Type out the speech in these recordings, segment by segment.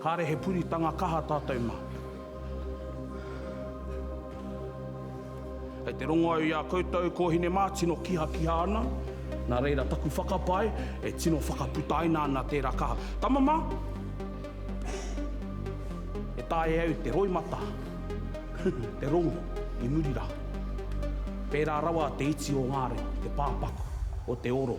Kāre he puritanga kaha tātou mā. Kei te rongo au i a koutou kōhine mā tino kihakiha ana, nā reira taku whakapae e tino whakaputaina ana tērā kaha. Tama mā, e taea au te roimata, te rongo i muri rā. Pērā rawa te iti o ngā reo, te pāpaku o te oro.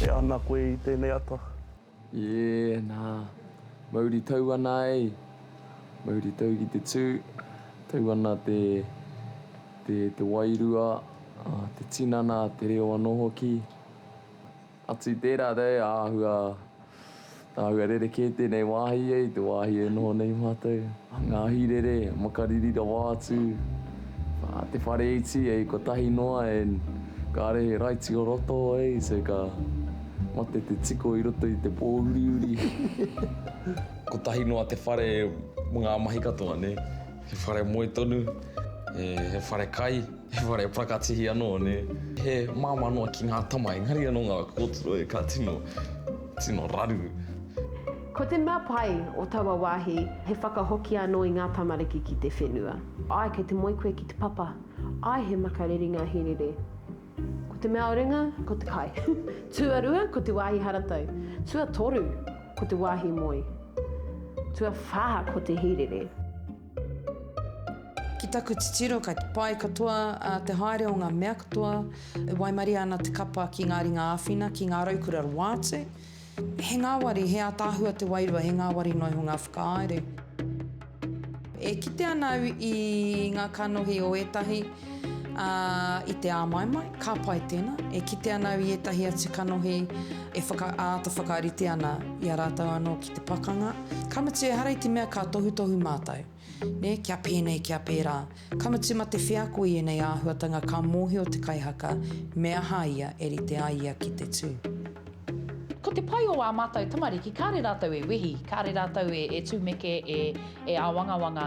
E ana koe i tēnei ata? Yeah, nā. Mauri tau ana ai. Mauri tau ki te tū. Tau ana te, te, te wairua, te tinana, te reo anō hoki. Atu i tērā nei, āhua, āhua rerekē tēnei wāhi e i te wāhi e noho nei mātou. Ngā hīrere, makariri rawa atu, te whare iti, hei kotahi noa and kāre he raiti o roto, hei, so ka mate te tiko i roto i te pōuriuri. Kotahi noa te whare mō ngā mahi katoa, nē. He whare moe tonu, he whare kai. He whare prakatihi anō, nē. He māmā noa ki ngā tama, engari anō ngā kōtiro e ka tino, tino raru. Ko te mea pai o taua wāhi, he whakahoki anō i ngā tamariki ki te whenua. Āe, kei te moe koe ki te papa. Āe, he makariri ngā hīrere. Ko te mea o ringa, ko te kai. Tuarua, ko te wāhi haratau. Tuatoru, ko te wāhi moe. Tuawhā, ko te hīrere. Ki taku titiro ka pai katoa te haere o ngā mea katoa e waimarie ana te kapa ki ngā ringa āwhina, ki ngā raukura roa atu. He ngāwari, he ātaahua te wairua, he ngāwari noa iho ngā whakahaere. E kite ana au i ngā kanohi o ētahi. Ā, i te āmaimai, ka pai tēnā, e kite ana au i ētahi atu kanohi e whaka, āta whakarite ana i a rātou anō ki te pakanga. Ka mutu ehara i te mea ka tohutohu mātou, nē, kia pēnei, kia pērā. Ka mutu mā te wheako i ēnei āhuatanga ka mōhio te kaihaka me aha ia e rite ai ia ki te tū. Ko te pai o ā mātou tamariki, kāre rātou e wehi, kāre rātou e, e tumeke, e, e āwangawanga.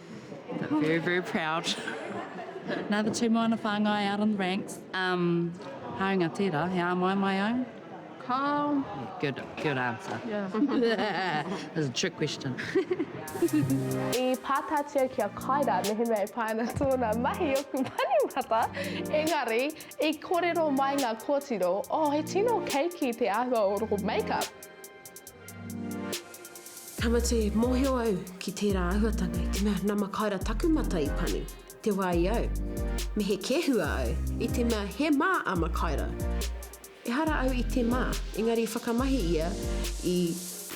Very, very proud. Another two moana whāngai out on the ranks. Um, haunga tērā, he āmaimai au. Kau. Good, good answer. Yeah. That's a trick question. I pātātia ki a Kaira mehemea e pā ana tōna mahi oku panimata, engari, i korero mai ngā kōtiro, oh, he tino keiki te āhua o roho make-up. Tamati, Mohio au ki tērā ahuatanga i te mea na Makaira taku mata i pani, te wa i au. Me he kehua au i te mea he ma a Makaira. Ehara au i te ma, engari i whakamahi ia i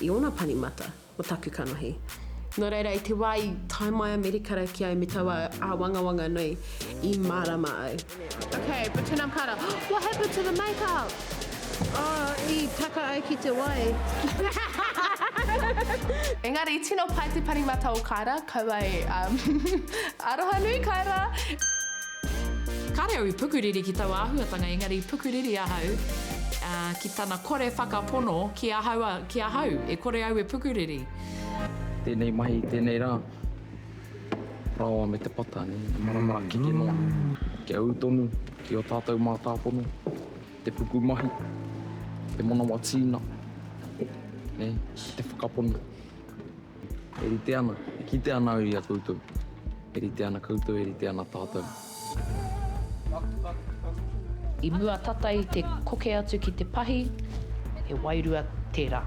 i ona pani mata mo taku kanohi. No reira i te wa i tae mai a Merikara ki au me taua awangawanga nei i marama au. Okay, but tena kara. What happened to the makeup? Oh, i taka ai ki te wai. Engari, tino pai te parimata o Kaira, kaua e um, aroha nui Kaira! Kāre au i pukuriri ki taua āhuatanga, engari i pukuriri ahau uh, ki tana kore whakapono ki ahau, ki ahau, e kore au e pukuriri. Tēnei mahi, tēnei rā. Rawa me te pata ne, te marama keke noa Ki a u tonu, ki o tatou mātāpono Te puku mahi, te manawa tīna Ne, te whakapono E rite ana, e kite ana au i a koutou E rite ana koutou, e rite ana tātou. I mua tata i te koke atu ki te pahi, he wairua tērā.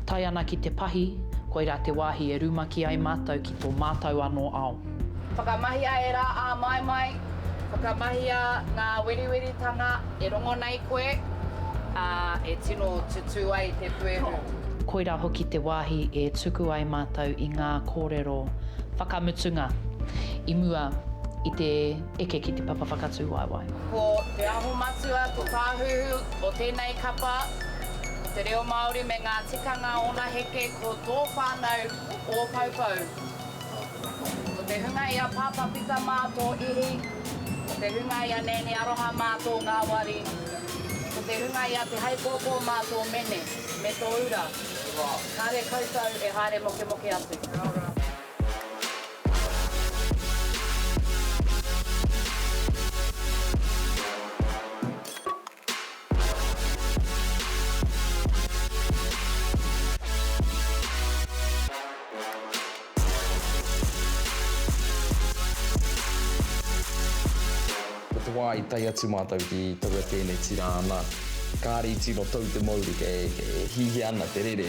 Tae ana ki te pahi, koirā te wāhi e rumaki ai mātou ki tō mātou anō ao. Whakamahia ērā āmaimai, whakamahia ngā weriweritanga. E rongo nei koe, ā, e tino tutū ai te puehu. Koirā hoki te wāhi e tuku ai mātou i ngā kōrero whakamutunga i mua i te eke ki te papa whakatūwaewae. Ko Te Aho Matua te tāhuhu o tēnei kapa, ko te reo Māori me ngā tikanga ōna heke ko tō whānau ō poupou. Ko te hunga i a Pāpā Pita mā tō ihi, ko te hunga i a Nēnē Aroha mā tō ngāwari, ko te hunga i a Te Haipōpō mā tō mene me tō ura, kāre koutou e haere mokemoke atu. Ko te wā i tae atu mātou ki taua tēneti rā ana, kāre i tino tau te mauri kei hihia ana te rere.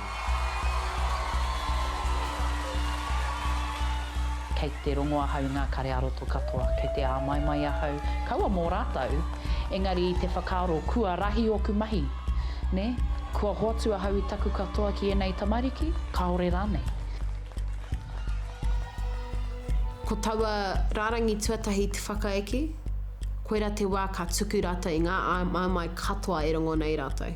Kei te rongo ahau i ngā kare ā-roto katoa, kei te āmaimai ahau, kaua mō rātou, engari i te whakaaro kua rahi ōku mahi, nē, kua hoatu ahau i taku katoa ki ēnei tamariki, kāore rānei. Ko taua rārangi tuatahi te whakaeke, koirā te wā ka tuku rātou i ngā āmaimai katoa e rongo nei rātou.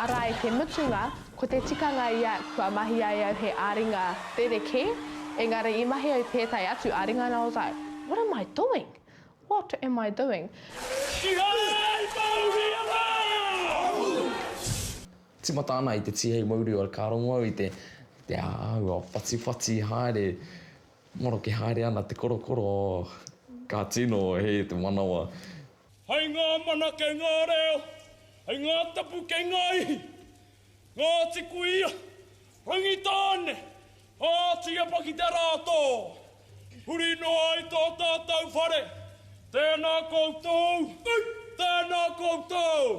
Arā i te mutunga, ko te tikanga ia kua mahi ai au he āringa rerekē, engari i mahi au tētahi atu āringa nā Ozai. What am I doing? What am I doing? Kihai mauria! Tīmata ana i te tīhei maurio ka rongo au i te te āhua whatiwhati haere maroke haere ana te korokoro ka tino hē te manawa. Hei ngā mana kei ngā reo, hei ngā tapu kei ngā ihi. Ngāti Kuia, Rangitāne, Pātiepa ki te rā tō. Huri noa ai tō tātou whare, tēnā koutou, tēnā koutou.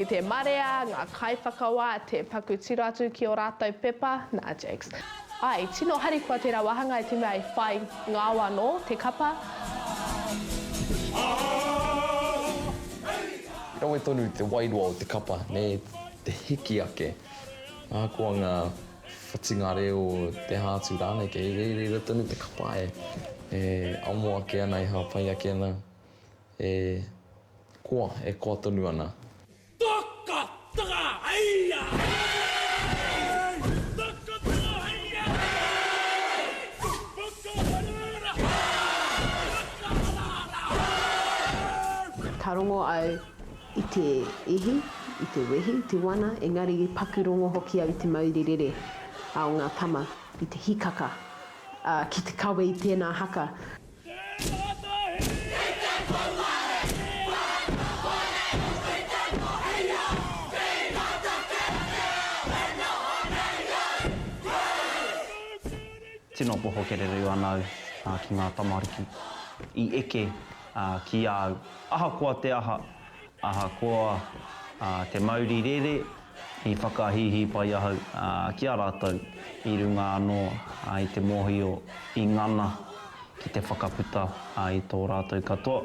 I te marea ngā kaiwhakawā te paku tiro atu ki ō rātou pepa, nā Jakes. Āe, tino harikoa tērā wāhanga i te mea i whai ngao anō te kapa. I rawe tonu te wairua o te kapa, nē, te hiki ake. Ahakoa ngā whatinga reo, te hātu rānei, kei reira tonu te kapa e amo ake ana, e hāpai ake ana. E koa, e koa tonu ana. Taka taka haia hei! Taka taka haia hei! Whakaharahara hei! Whakaharahara hei! Ka rongo au i te ihi, i te wehi, i te wana, engari i paku rongo hoki au i te mauri rere o ngā tama, i te hikaka, ā, ki te kawe i tēnā haka. Tino poho kererū ana au ki ngā tamariki i eke ki a au. Ahakoa te aha, ahakoa te mauri rere, I whakahīhī pai ahau ki a rātou i runga anō i te mōhio i ngana ki te whakaputa i tō rātou katoa.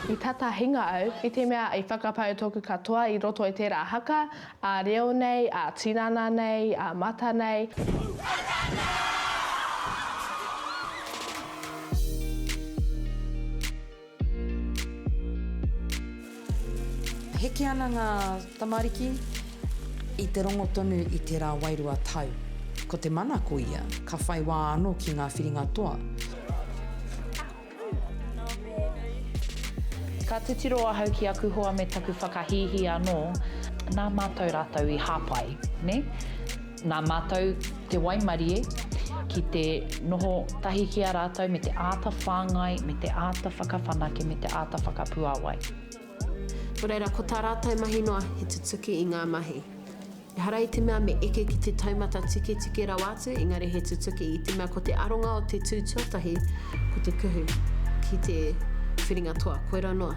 I tata hinga au, i te mea i whakapau tōku katoa i roto i tērā haka, ā reo nei, ā tinana nei, ā mata nei. Heke ana ngā tamariki i te rongo tonu i tērā wairua tau. Ko te mana ko ia, ka whai wā anō ki ngā whiringa toa. Ka titiro ahau ki aku hoa me taku whakahīhī anō, nā mātou rātou i hāpai, nē? Nā mātou te waimarie ki te noho tahi ki a rātou me te āta whāngai, me te āta whakawhanake, me te āta whakapuāwai. Nō reira, ko tā rātou mahi noa he tutuki i ngā mahi. Ehara i te mea me eke ki te taumata tiketike rawa atu, engari he tutuki i te mea ko te aronga o te tū tuatahi ko te kuhu ki te whiringa toa, koirā noa.